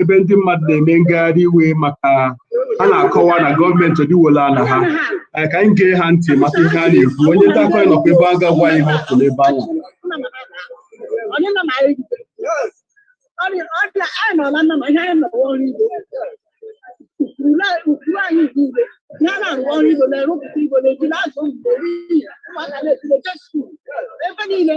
ebe ndị mmadụ na-eme ngagharị iwe maka a na-akọwa na gọọmenti ọdịwola ala ha ka anyị gee ha ntị maka ihe a na-ekwu onye nta akụkọ anyị nọkwa ebe a ga-agwa anyị ihe ọ fụlụ n'ebe ahụ ebe niile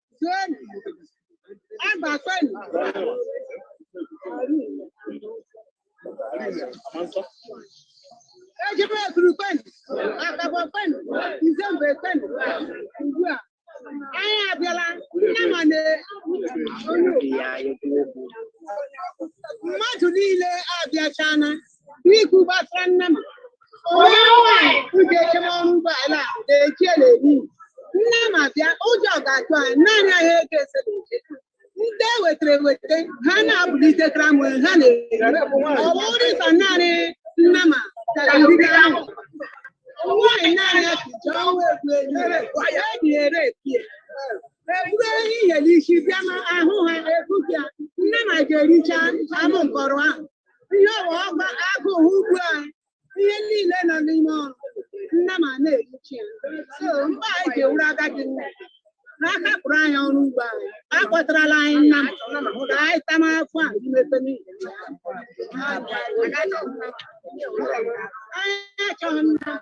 Senu. Agba senu. Ejebe ekuru kwenu. Akabọ kwenu. Izembe kwenu. Ugbu a. Anyị abịala nnama na mmadụ niile abịachana Biko gbasara nnama. Onye nwanyị ụjọ eche m ọrụ ugbo ala a na-eji ya na-eri. Nnama abịa, ụjọ ga-atụ anyị, naanị anyị ego ese na-eche. Ndị ewetara eweta, ha na-abụlite kramụ, ha na-eri. Ọ bụrụ ịsa naanị nnama tara ndị ahụ. Nwaanyị naanị ya ka ji ọnwa egwu enyi, ya dị ere epie. Eburu ehihie n'isi bịa ma ahụ ha ebupịa, nnama ga-ericha anụ nkọrọ ahụ. ihe ọghọma agụụ ugbu a ihe niile nọ n'ime ọrụ nnama na-erichi ya so mgbe anyị ga-ewuru agadi nne n'aka pụrụ anyị ọrụ ugbo anyị akpọtarala anyị nnama ka anyị tama afọ a imepe n'ihi ya. anyị achọghị nnama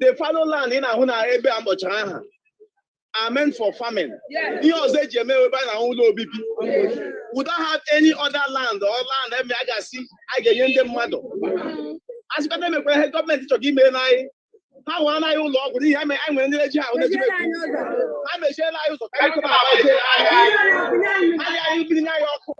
the fallow land ị na-ahụ na ebe a m kpọchara aha are meant for farming. Ihe ọzọ e ji eme ebe a na ụlọ obibi. We don't have any other land or land ebe a ga-asị a ga-enye ndị mmadụ. A sịkwa na e nwekwara ihe gọọmenti chọrọ ime n'anyị. Ha nwere n'anyị ụlọ ọgwụ n'ihi anyị nwere ndị eji ahụ na-eji Ha mechiela anyị ụzọ ka anyị kọba agbaje anyị anyị biri n'anyị ọkụ.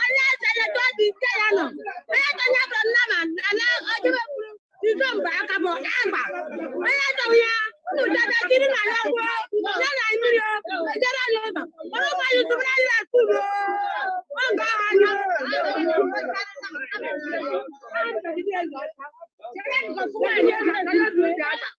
onye sere ka obi ike ya nọ onye tonye bụ nnama ana ọjọbe kwuru izo mgbe aka bụ agba onye tọrọ ya unu debe jiri na ya gwuo ya na mmiri ejere ya ụzọ ọrụ mmadụ tụbara ya akụrụ oge ahụ anya Thank you.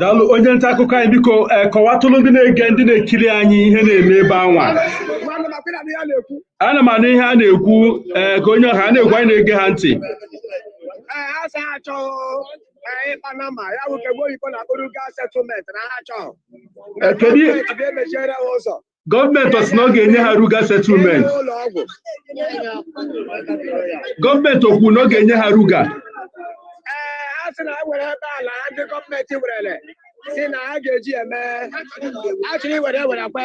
daalụ onye nta akụkọ anyị biko eh, kọwatụrụ ndị na-ege ndị na-ekiri anyị ihe na-eme ebe anwa ana m anụ ihe a na-ekwu eh, ka onye ọha a na-ekwu anyị na-ege ha ntị ịkpa nnama ya bụ nke be oyibo na-akpọ Ruga settlement na ha chọọ Eh, kedu ihe- emechiere ha ụzọ gọọmenti ọ sị na ọ ga-enye ha ruga settlement gọọmenti o kwu na ọ ga-enye ha ruga a sị na ha were ebe ala ndị gọọmenti werere sị na ha ga-eji eme a chọrọ iwere ewere kwe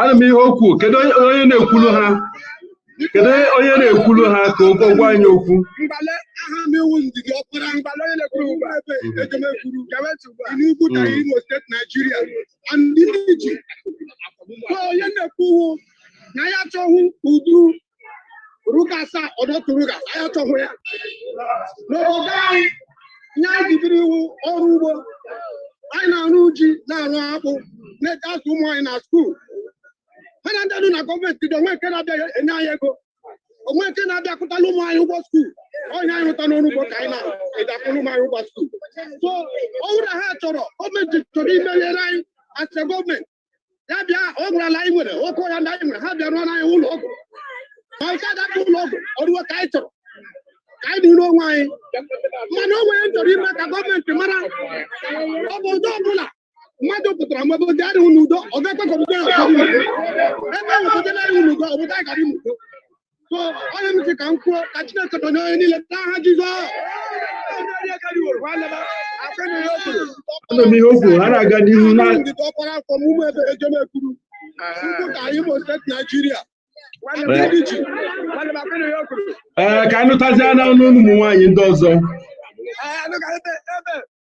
ana m ihe okwu kedu onye na-ekwulu ha kedu onye na-ekwulu ha ka ụgwọ gwa anyị okwu onye na-ekwu na ya achọghị udu ruga saa ọdọtụ ruga anyị achọghị ya n'obodo anyị ihe anyị ji biri wụ ọrụ ugbo anyị na-arụ ji na-arụ akpụ na-eji azụ ụmụ anyị na skuul ha na ndị nọ na gọọmenti dị o nwe nke na-abịa enye anyị ego o nwe nke na-abịa kwụtala ụmụ anyị ụgwọ skuul ọ ihe anyị rụta n'ọrụ ugbo ka anyị na-eji akwụrụ ụmụ anyị ụgwọ skuul so ọ bụrụ na ha chọrọ gọọmenti chọrọ imenyere anyị a sị gọọmenti ya bịa o gwara na anyị nwere oke ọhịa ndị anyị nwere ha bịa rụọna anyị ụlọ ọgwụ ma nke adapụ ụlọ ọgwụ ọruo ka anyị chọrọ ka anyị dịrị onwe anyị mana o nwere m chọrọ ime ka gọọmenti mara obodo ọbụla mmadụ pụtara mgbe obodo adịghị n'udo ọ ga-ekwe ka obodo ya ebe ahụ obodo na-adịghị n'udo obodo anyị ga-adị n'udo so ọ ihe m sị ka m kwuo ka chineke donye onye niile n'aha jizọs anụ m ihe o kwuru ha na-aga n'ihu na ndịda ọkpara afọ n'ụmụebe ejemekwuru ugwuta imo steeti naijiria ndị ji ee ka anyị nụtazie n'ọnụ ụmụ nwaanyị ndị ọzọ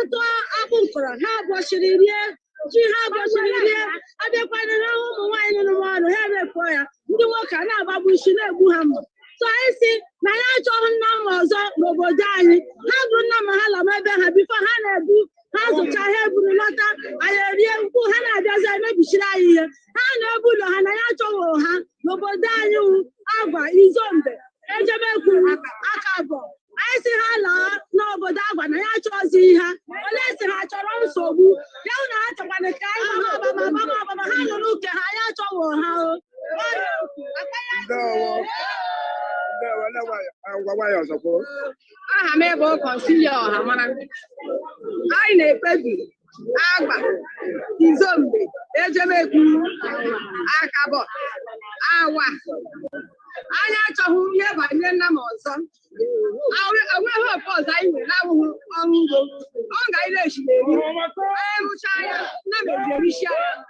atụ akpụ m kọrọ ha abọchiri rie ji ha abọchiri rie abịakwana ha hụ ụmụ nwaanyị nọ n'ọrụ ha repụọ ya ndị nwoke a na-agbagbu isi na-egbu ha mma so anyị sị na ya achọghị nnama ọzọ n'obodo anyị ha bụ nnama ha lama ebe ha before ha na-ebu ha zụcha ha eburu lọta anyị erie ugbu ha na-abịazi emebichiri anyị ihe ha laa ebe ụlọ ha na ya achọghị ha n'obodo anyị wụ agwa izombe ejemekwuru akabọ anyị sị ha laa n'obodo agwa na ya achọzi ha ole si ha chọrọ nsogbu ya wụ na ha chọkwana ka anyị gbama agbama ha nọrọ nke ha ya achọghị ha o aha m bụ kọnsilia ọhamara anyị na-ekpebi agwa izombe ejemekwu akabọ awa anyị achọghị ihe banye nnama ọzọ o nweghị ihe ọzọ anyị nwere na-awụghị ọrụ ugbo ọ ka anyị na-esi na-eri anyị rụchaa ya nnama eje erisi ya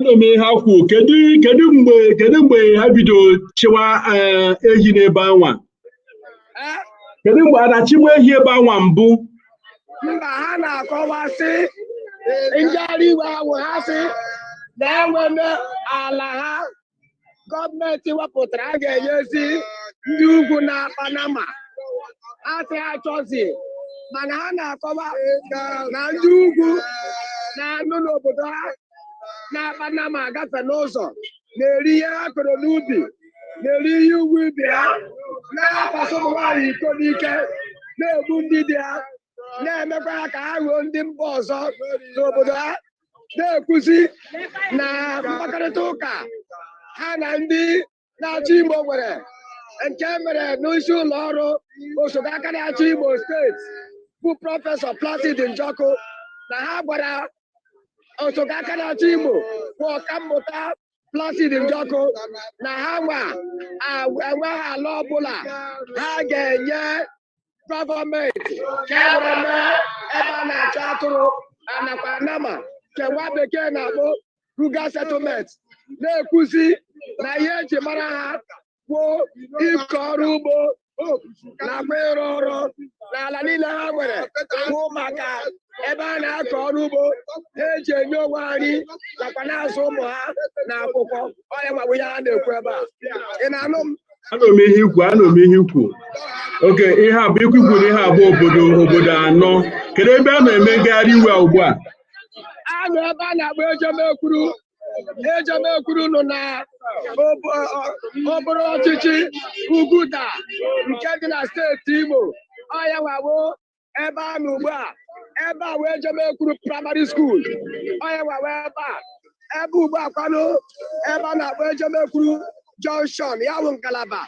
m ihe ha kwuo kedu kedu mgbe kedu mgbe ha bido chịwa eh, ehi n'ebe anwa eh? kedu mgbe a na-achịbu ehi ebe anwa mbụ mba ha na-akọwa sị njegharị iwe a wụ ha sị na e nwere ala ha gọọmenti wepụtara a ga-enyezi ndị ugwu na-akpa nama ha sị ha achọzi mana ha na-akọwa na ndị ugwu na-anọ n'obodo ha na-akpa nama agafe n'ụzọ na-eri ihe ha kọrọ n'ubi na-eri ihe ugwu ubi ha na-akwasị ụmụ nwaanyị iko n'ike na-egbu ndị di ha na-emekwa ha ka ha ghọọ ndị mba ọzọ n'obodo ha na-ekwuzi na mkpakọrịta ụka ha na ndị na-achị Imo nwere nke e mere n'isi ụlọ ọrụ osote aka na-achị Imo steeti bụ prọfesọ Placid Njoku na ha gwara osote aka na-achị Imo bụ ọkammụta Placid Njoku na ha nwa enweghị ala ọbụla ha ga-enye gọọmenti ka e were mee ebe a na-achị atụrụ nakwa nama nke nwa bekee na-akpọ ruga settlement na-ekwuzi na ihe eji mara ha wụ ịkọ ọrụ ugbo nakwa ịrụ ọrụ na ala niile ha nwere wụ maka ebe a na-akọ ọrụ ugbo na-eji enye onwe ha nri nakwa na-azụ ụmụ ha na akwụkwọ ọ ya nwa bụ ihe ha na-ekwu ebe a ị na-anụ m anụ m ihe i kwu anụ m ihe i kwu ok ihe a bụ i kwu i kwu na ihe a bụ obodo obodo anọ kedu ebe a na-eme ngagharị iwe ugbu a a nọ ebe a na-akpọ Ejemekwuru Ejemekwuru nọ n'okpuru ọchịchị Uguta nke dị na steeti Imo ọ ya nwa wụ ebe a nọ ugbu a ebe a wụ Ejemekwuru praịmarị skuul ọ ya nwa wụ ebe a ebe ugbu a kwanụ ebe a na-akpọ Ejemekwuru jọnshọn ya bụ ngalaba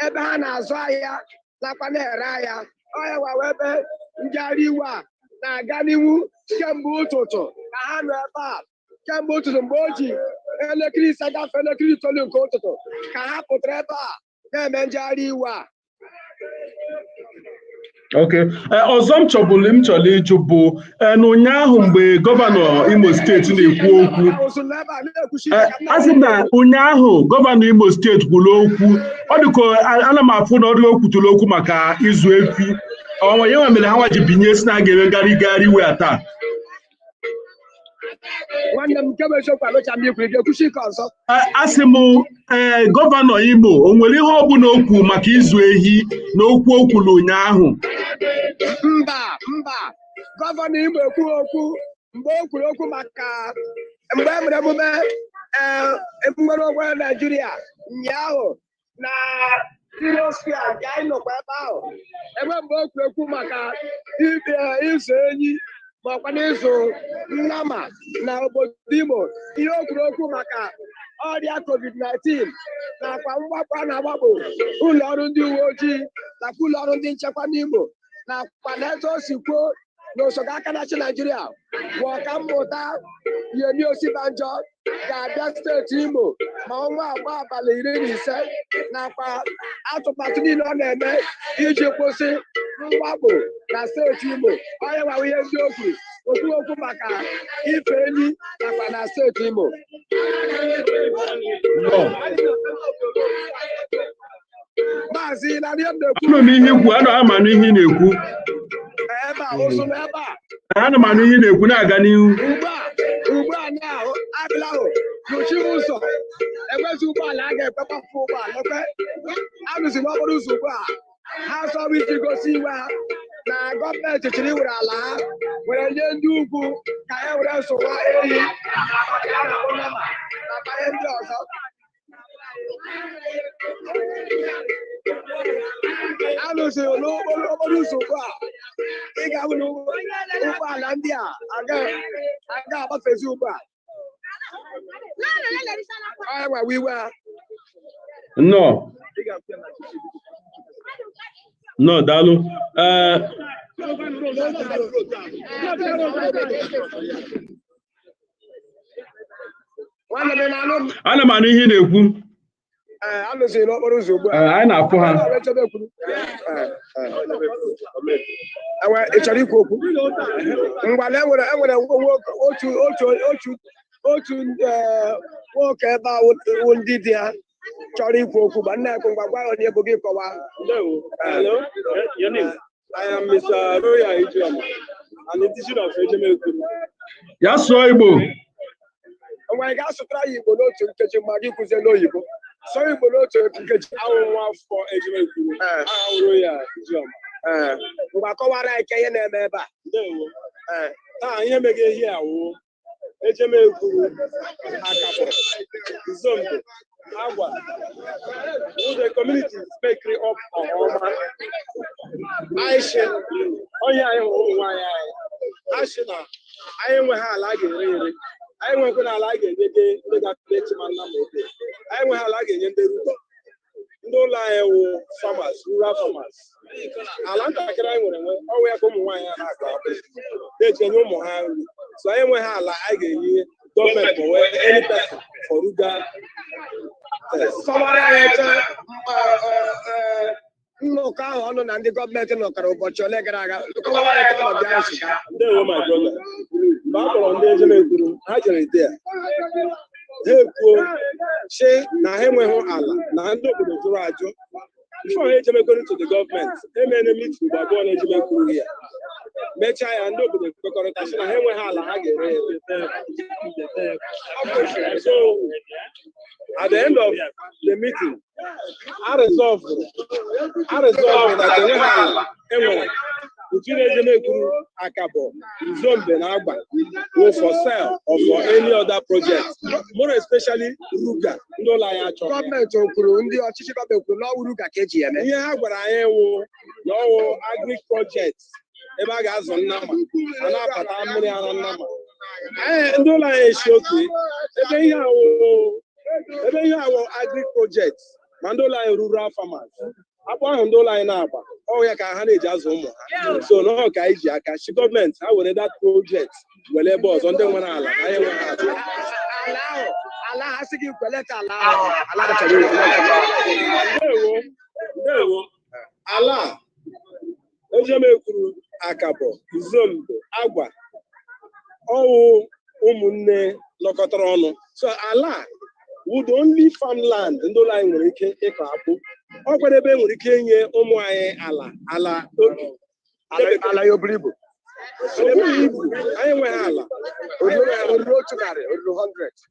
ebe ha na-azụ ahịa nakwa na-ere ahịa ọ ya nwa wụ ebe njegharị iwe a na-aga n'ihu kemgbe ụtụtụ ka ha nọ ebe a kemgbe ụtụtụ mgbe o ji elekere ise gafee elekere itoolu nke ụtụtụ ka ha pụtara ebe a na-eme njegharị iwe a ok eh, ọzọ m chọburu m chọrọ ịjụ bụ eh, na ụnyaahụ mgbe gọvanọ imo steeti na-ekwu okwu eh, a sị na ụnyaahụ gọvanọ imo steeti kwuru okwu ọ dịka ana m afụ na ọ dịka o kwutụrụ okwu maka ịzụ efi ọnwa ya nwa mere ha nwa ji binie sị na a ga-eme ngharị ngagharị iwe a taa nwanne m nke bụ eziokwu anụcha m i kwuru ga-ekwusi ike ọzọ asị m ee eh, gọvanọ Imo o nwere ihe ọbụla o kwuru maka ịzụ ehi na okwu o kwuru ụnyaahụ mba mba gọvanọ Imo ekwurọ okwu mgbe o kwuru okwu maka mgbe e mere emume eh, nnwere onwe Naijiria ụnyaahụ na Heroes Square nke anyị nọkwa ebe ahụ enweghị mgbe o kwuru okwu maka ebe ịzụ ehi ma ọ kwanụ ịzụ nnama na obodo Imo ihe o kwuru okwu maka ọrịa covid-19 nakwa mwakpo a na-awakpo ụlọ ọrụ ndị uwe ojii nakwa ụlọ ọrụ ndị nchekwa n'Imo nakwa n'etu o si kwuo na osote aka na-achị Naijiria bụ ọkammụta Yemi Osibanjo ga-abịa steeti Imo ma ọnwa agbaa abalị iri na ise nakwa atụmatụ niile ọ na-eme iji kwụsị mwakpo na steeti Imo ọ ya nwa wụ ihe ndị o kwuru o kwurọ okwu maka ife ehi nakwa na steeti Imo maazị na ihe m na-ekwu anụ m ihe i kwuru ana m anụ ihe ị na-ekwu ebe a ụzụ na ebe a ana m anụ ihe ị na-ekwu na-aga n'ihu ugbu a ugbu a na ha abịala ha nọchiri ụzọ ekwezi ụgbọala aga ekwe kpapụ ụgbọala ekwe anọzi n'okporo ụzọ ugbu a ha chọrọ iji gosi iwe ha na gọọmenti chọrọ iwere ala ha were nye ndị ugwu ka e were zụwa ehi nakwa ihe ndị ọzọ anọzi n'okporo okporo ụzọ ugbu a ị ga-ahụ na ụgbọ- ụgbọala ndị a agaghị aga agbafezi ugbu a ọ ya nwa wụ iwe ha nnọọ nnọọ daalụ ee ana m anụ ihe ị na-ekwu anọzi n'okporo ụzọ ugbu a anyị na-afụ ha ị chọrọ ikwu okwu ngwanụ enwere enwere otu otu otu otu nwoke ebe a wụ ndị dị ya chọrọ ikwu okwu bịa na-ekwu ngwa gwa anyị onye bụ gị kọwaa I am Mr. Roya Ijeoma, an indigene of Ejemekwuru. Ya sụọ Igbo. Ngwa ị ga-asụtara anyị Igbo n'otu nkeji ma gị kwuzie n'oyibo. Sụọ Igbo n'otu nkeji. Awụ m nwa afọ Ejemekwuru. Eh. Awụ m Roya Ijeoma. Eh. Ngwa kọwaara anyị ka ihe na-eme ebe a. Ndewo. Eh. Taa ihe meghe ebe a wụ. Ejemekwuru Akabọ Izombe Agwa wụ the communities mekiri up Ọma ashị onye anyị hụrụ ụmụ nwaanyị anyị ashị na anyị enweghị ala a ga-ere ere anyị nwekwana ala a ga-enye ndị ga-apụta echi ma nna ma ebe anyị enweghị ala a ga-enye ndị Ruga ndị ụlọ anyị wụ farmers rural farmers ala ntakịrị anyị nwere nwe ọwụ ya ka ụmụ nwaanyị a na-akọ akpụ na-eji enye ụmụ ha nri so anyị enweghị ala anyị ga-enye gọọmenti ma ọ wụ any person for Ruga kọwara anyị nnọkọ ahụ ụnụ na ndị gọọmenti nọkọrọ ụbọchị ole gara aga ndewo my brother mgbe a kpọrọ ndị Ejemekwuru ha jere ide ya ha ekwuo sị na ha enweghị ala na ndị obodo jụrụ ajụ before ha ejemekwere to the gọọmenti e mere meeting mgbe abụọ n'Ejemekwuru ya mechaa ya ndị obodo kwekọrịta sị na ha enweghị ala ha ga-ere ere so at the end of the meeting a rịzọvụrụ a rịzọvụrụ na enweghị ala e nwere between Ejemekwuru Akabọ Izombe na Agwa wụ for sale or for any other project more especially Ruga ndị ụlọ anyị achọrọ gọọmenti o kwuru ndị ọchịchị gọọmenti o kwuru n'ọwụ Ruga ka e ji eme ihe ha gwara anyị wụ na ọwụ agric project ebe a ga-azụ nnama a na-apata mmiri ara nnama ndị ụlọ anyị asị okay ebe ihe a wụ ebe ihe a wụ agric project ma ndị ụlọ anyị rural farmers akpụ ahụ ndị ụlọ anyị na-agba ọ wụ ya ka ha na-eji azụ ụmụ ha so na ọ ka anyị ji aka sị gọọmenti ha were that project were ebe ọzọ ndị nwere ala anyị enweghị ala ha sị gị kweleta ala ahụ ala ha chọrọ iwu. Ndewo, ndewo. ala a Ejemekwuru, Akabọ, Izombe, Agwa, ọwụ ụmụnne nọkọtara ọnụ. So ala a wụ the only farmland ndị ụlọ anyị nwere ike ịkọ akpụ. Ọ kwa ebe e nwere ike inye ụmụ anyị ala ala obi. Ala ala ya o buru ibu. O bughị ibu, anyị enweghị ala. Anyị enweghị ala. O ruru otu narị, o ruru 100.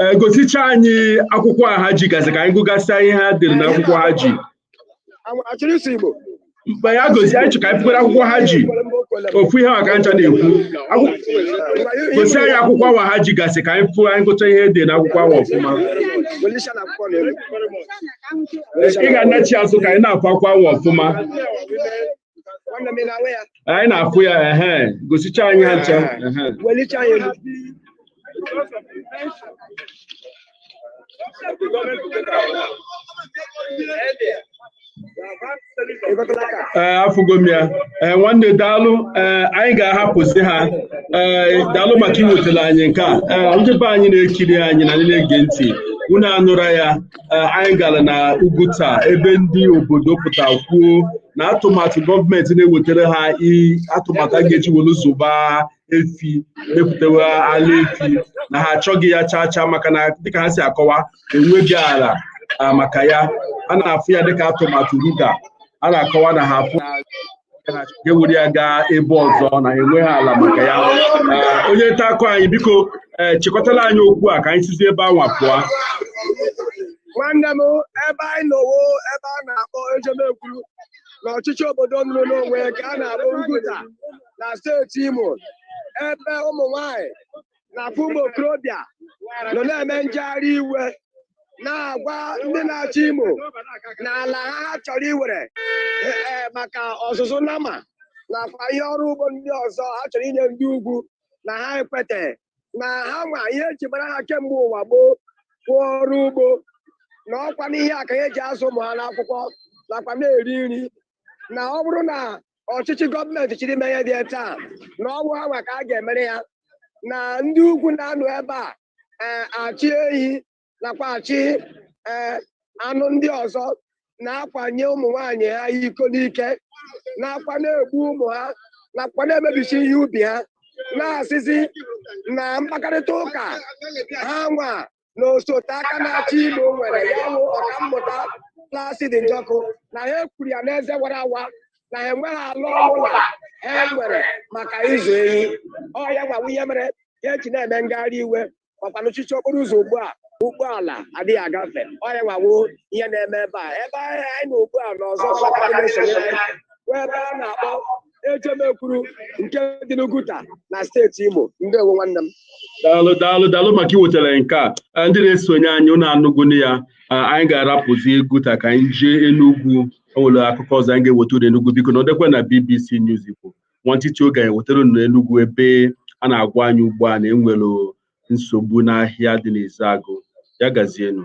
Eh, gosicha anyị akwụkwọ a ha ji gasị ka anyị gụgasịa ihe ha dere na akwụkwọ ha ji mgbe ya gosi anyị chọ ka anyị fụkwara akwụkwọ ha ji ofu ihe maka ncha na-ekwu gosi anyị akwụkwọ awa ha ji gasị ka anyị fụọ anyị gụcha ihe dị na akwụkwọ awa ọfụma ị ga-anachi azụ ka anyị na-afụ akwụkwọ awa ọfụma anyị na-afụ ya ehe gosicha anyị ha ncha welicha anyị elu ee afụgo m ya ee nwanne daalụ ee anyị ga-ahapụzi ha ee daalụ maka iwetara anyị nke a ee ndị be anyị na-ekiri anyị na ndị na-ege ntị unu anụra ya eh, anyị gara na Uguta ebe ndị obodo pụta kwuo na atụmatụ gọọmenti na-ewetara ha atụmatụ a ga-eji were zụba efi mepụtawa ala efi na ha achọghị ya chaa chaa maka na dịka ha si akọwa enweghị ala ah, maka ya a na-afụ ya dịka atụmatụ ruga a na-akọwa na ha afụ ka e were ya gaa ebe ọzọ na enweghị ala maka ya eh, onye nta akụkọ anyị biko eh, chịkọtala anyị okwu a ka anyị sizi ebe anwa pụọ nwanne m ebe anyị nọ wụ ebe a na-akpọ Ejemekwuru na ọchịchị obodo nọrọ n'onwe ka a na-akpọ Uguta na steeti Imo ebe ụmụ nwanyị nakwa ụmụ okorobịa nọ na-eme njegharị iwe na-agwa ndị na-achị Imo na ala ha ha chọrọ iwere e, e, maka ọzụzụ nama nakwa ihe ọrụ ugbo ndị ọzọ ha chọrọ inye ndị ugwu na ha ekweteghị na ha nwa ihe eji mara ha kemgbe ụwa gboo bụ ọrụ ugbo na ọkwa n'ihe a ka ha eji azụ ụmụ ha n'akwụkwọ nakwa na-eri nri na ọ bụrụ na ọchịchị gọọmenti chere ime ihe dị etu a na ọ wụ ha nwa ka a ga-emere ya na ndị ugwu na-anọ ebe a ee achị ehi nakwa achị ee anụ ndị ọzọ na-akwanye ụmụ nwanyị ha iko n'ike nakwa na-egbu ụmụ ha nakwa na-emebichi ihe ubi ha na-asịzi na mkpakarịta ụka ha nwa na osote aka na-achị Imo nwere ya bụ ọkammụta Placid Njoku na ha kwuru ya n'eze wara awa na ha enweghị ala ọbụla ha nwere maka ịzụ ehi ọ ya nwa wụ ihe mere ha eji na-eme ngagharị iwe makwa nọchichie okporo ụzọ ugbu a ụgbọala adịghị agafe ọ ya nwa wụ ihe na-eme ebe a ebe anyị nọ ugbu a na ọzọ ebe a na-akpọ Ejemekwuru nke dị n'Uguta na steeti Imo ndewo nwanne m daalụ daalụ daalụ maka iwetara nke a ndị na-esonye anyị ụnụ anụgonụ ya anyị ga-arapụzi Uguta ka anyị jee Enugu enwere akụkọ ọzọ anyị ga-eweta unu Enugu biko nọdụkwa na BBC News Igbo nwantịtị oge anyị wetara unu Enugu ebe a na-agwa anyị ugbu a na enwere nsogbu n'ahịa dị n'Ezeagụ ya gazienụ